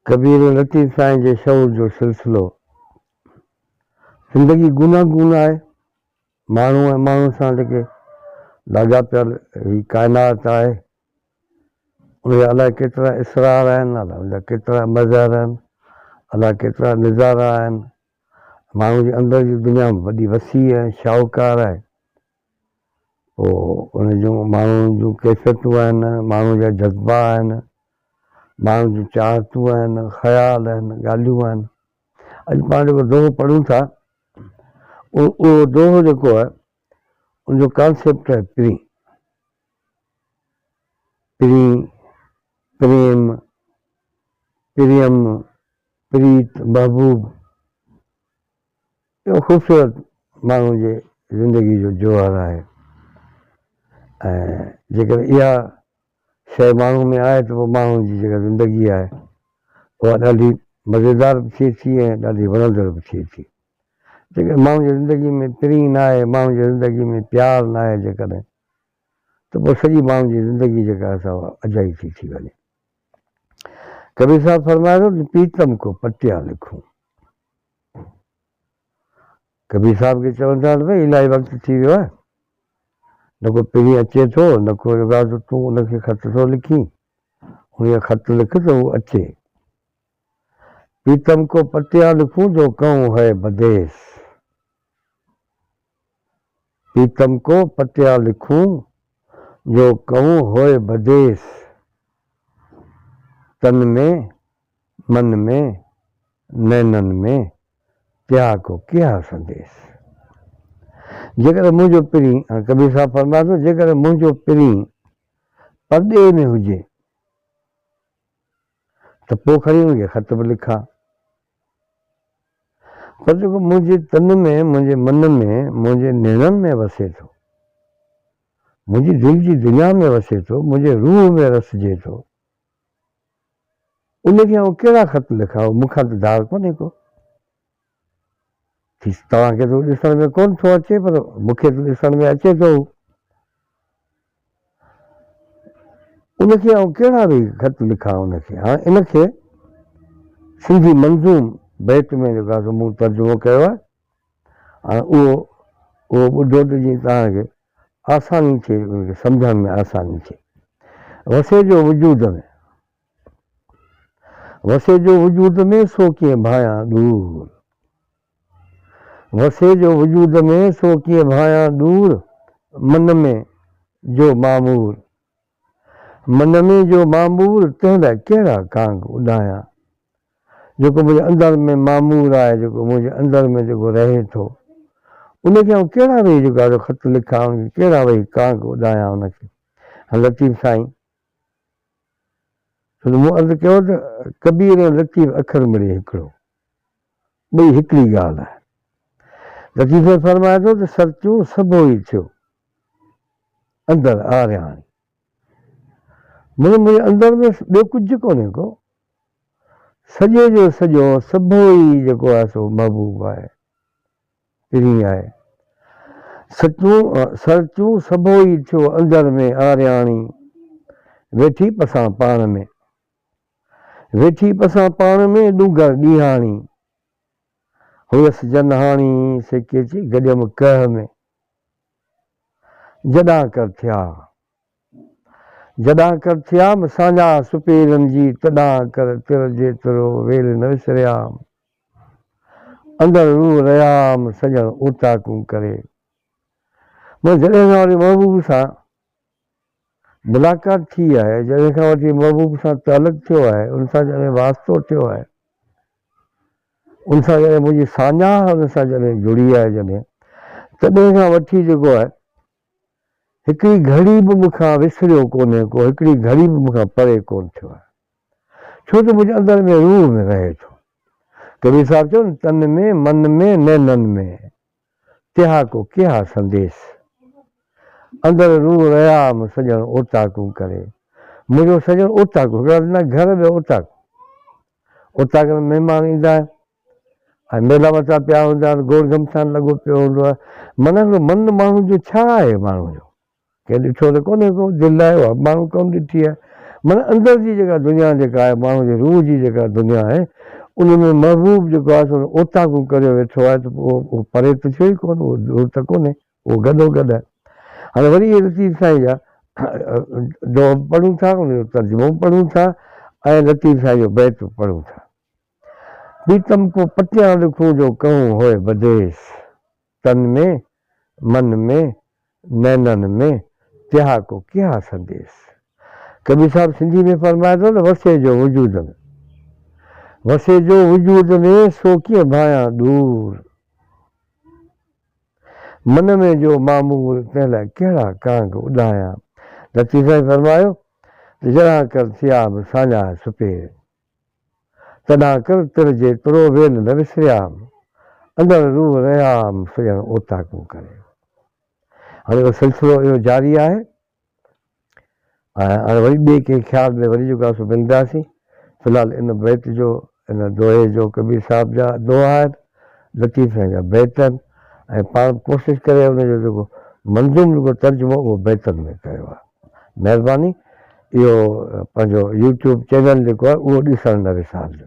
ڪبير لطيف سائين جي شعور جو سلسلو زندگي گونه گون آهي، ماڻهو ۽ ماڻهو سان لڳي لاڳاپيل هي ڪائنات آهي، ان جا الاء ڪيترا اسرار آهن، الاء ان جا ڪيترا مظهر آهن، الاء ڪيترا نظارا آهن، ماڻهو جي اندر جي دنيا وڏي وسيع ۽ شاهوڪار آهي. پوء ان جون ماڻهوء جون ڪيفيتون آهن، ماڻهوء جا جذبا آهن، ماڻهوء جون چاهتون آهن، خيال آهن، ڳالهيون آهن. اڄ پاڻ جيڪو دوهو پڙهون ٿا، اهو دوهو جيڪو آهي، ان جو ڪانسيپٽ آهي پرين. پرين، پريم، پريم، پريت، محبوب. اهو خوبصورت ماڻهو جي زندگي جو جوهر آهي ۽ جيڪڏهن اها شيء ماڻهو ۾ آهي ته پوء ماڻهو جي جيڪا زندگي آهي اها ڏاڍي مزيدار به ٿئي ٿي ۽ ڏاڍي وڻندڙ به ٿئي ٿي. جيڪڏهن ماڻهو جي زندگي ۾ پرينء ناهي، ماڻهو جي زندگي ۾ پيار ناهي جيڪڏهن ته پوء سڄي ماڻهو جي زندگي جيڪا آهي سا اجائي ٿي ٿي وڃي. ڪبير صاحب فرمائي ٿو ته پيتم ڪو پٽيان لکون. ڪبير صاحب کي چون ٿا ته ڀاء الاهي وقت ٿي ويو آهي، نه ڪو پرين اچي ٿو نه ڪو ادا ته تون ان کي خط ٿو لکين، انهيء خط لک ته هو اچي. پريتم ڪو پتيان لکون جو ڪهون هئي بديس. پيتم ڪو پٽيا لکون، جو ڪهون هوئي بديس. تن ۾ من ۾، نينن ۾، تيها ڪو ڪيها سنديس. جيڪڏهن منهنجو پرين، هاڻي ڪبير صاحب فرمائي ٿو، جيڪڏهن منهنجو پرين پرڏيهه ۾ هجي، ته پوء کڻي ان کي خط به لکان. پر جيڪو منهنجي تن ۾، منهنجي من ۾، منهنجي نيڻن ۾ وسي ٿو، منهنجي دل جي دنيا ۾ وسي ٿو، منهنجي روح ۾ رسجي ٿو، ان کي آئون ڪهڙا خط لکان، مون کان ته ڌار ڪونهي ڪو. ٿي توهان کي ته هو ڏسڻ ۾ ڪونه ٿو اچي، پر مون کي ته ڏسڻ ۾ اچي ٿو هو. ان کي آئون ڪهڙا به خط لکان ان کي هاڻ ان کي سنڌي منظوم بيت ۾ جيڪو آهي سو مون ترجمو ڪيو آهي هاڻ اهو اهو ٻڌو ته جيئن توهان کي آساني ٿئي ان کي سمجهڻ ۾ آساني ٿئي وسي جو وجود ۾ وسي جو وجود ۾ سو ڪيئن ڀانيان ڏور وسي جو وجود ۾، سو ڪيئن ڀانيان ڏور، من ۾ جو معمور، من ۾ جو معمور، تنهن لاء ڪهڙا ڪانگ اڏايان، جيڪو منهنجي اندر ۾ معمور آهي، جيڪو منهنجي اندر ۾ جيڪو رهي ٿو، ان کي آئون ڪهڙا ويهي جيڪو آهي سو خط لکان، ان کي ڪهڙا ويهي ڪانگ اڏايان ان کي، هن لطيف سائين! ڇو ته مون عرض ڪيو ته ڪبير ۽ لطيف اکر مڙئي هڪڙو، ٻئي هڪڙي ڳالهه آهن. لطيف ۾ فرمائي ٿو ته سرتيون سڀو ئي ٿيو اندر آرياڻي. مڙئي منهنجي اندر ۾ ٻيو ڪجهه ڪونهي ڪو. سڄي جو سڄو سڀو ئي جيڪو آهي سو محبوب آهي. پرين آهي. سچون سرچون سڀو ئي ٿيو اندر ۾ آرياڻي ويٺي پسان پاڻ ۾. ويٺي پسان پاڻ ۾ ڏونگر ڏينهاڻي هئس جنهاڻي سي ڪيچي گڏيم ڪهه ۾. جڏان ڪر ٿيا جڏان ڪر ٿيام سانجا سپيرن جي تڏان ڪر تر جيترو ويل نه وسريام. اندر روح ريام سڄڻ اوطاقون ڪري. مون جڏهن کان وٺي محبوب سان ملاقات ٿي آهي، جڏهن کان وٺي محبوب سان تعلق ٿيو آهي، ان سان جڏهن واسطو ٿيو آهي، ان سان جڏهن منهنجي ساڃاهه ان سان جڏهن جڙي آهي جڏهن، تڏهن کان وٺي جيڪو آهي هڪڙي گهڙي به مون کان وسريو ڪونهي ڪو، هڪڙي گهڙي به مون کان پري ڪونه ٿيو آهي، ڇو ته منهنجي اندر ۾ روح ۾ رهي ٿو. ڪبير صاحب چيو نه تن ۾ من ۾ نينن ۾، تها ڪو ڪيها سنديس. اندر روح رهيا م سڄڻ اوطاقون ڪري. منهنجو سڄڻ اوطاقون، هڪڙا ڏنا گهر ٻيا اوطاقون. اوطاقن ۾ مهمان ايندا آهن. ۽ ميلا مچا پيا هوندا آهن، گوڙ گهمسان لڳو پيو هوندو آهي، من هڪڙو من ماڻهو جو ڇا آهي ماڻهو جو ڪنهن ڏٺو ته ڪونهي ڪو دل آهي اها به ماڻهو ڪونه ڏٺي آهي من اندر جي جيڪا دنيا جيڪا آهي ماڻهو جي روح جي جيڪا دنيا آهي ان ۾ محبوب جيڪو آهي سو اوطاقون ڪريو ويٺو آهي ته پوء اهو پري ته ٿيو ئي ڪونه اهو دور ته ڪونهي اهو گڏو گڏ آهي هاڻي وري اهي لطيف سائين جا دوها به پڙهون ٿا ان جو ترجمو به پڙهون ٿا ۽ لطيف سائين جو بيت به پڙهون ٿا. پريتم ڪو پٽيان لکون جو ڪهون هوء بديس. تن ۾، من ۾، نينن ۾، تها ڪو ڪيها سنديس. ڪبير صاحب سنڌي ۾ فرمائي ٿو ته وسي جو وجود ۾. وسي جو وجود ۾، سو ڪيئن ڀانئيان ڏور. من ۾ جو معمول، تنهن لاء ڪهڙا ڪانگ اڏايان. لطيف سائين فرمايو ته جرهان ڪر ٿياب ساڃاهه سپير. تڏهن تر تر جي ترو ويل نه وسريام، اندر روح رهيام سڄڻ اوطاقون ڪري. هاڻي اهو سلسلو اهو جاري آهي ۽ هاڻي وري ٻئي ڪنهن خيال ۾ وري جوڳاسون ملنداسين. في الحال ان بيت جو ان دوهي جو ڪبير صاحب جا دوها آهن، لطيف سائين جا بيت آهن ۽ پاڻ به ڪوشش ڪري ان جو جيڪو منظوم رڳو ترجمو اهو بيتن ۾ ڪيو آهي. مهرباني اهو پنهنجو يوٽيوب چينل جيڪو آهي اهو ڏسڻ نه وسارجو.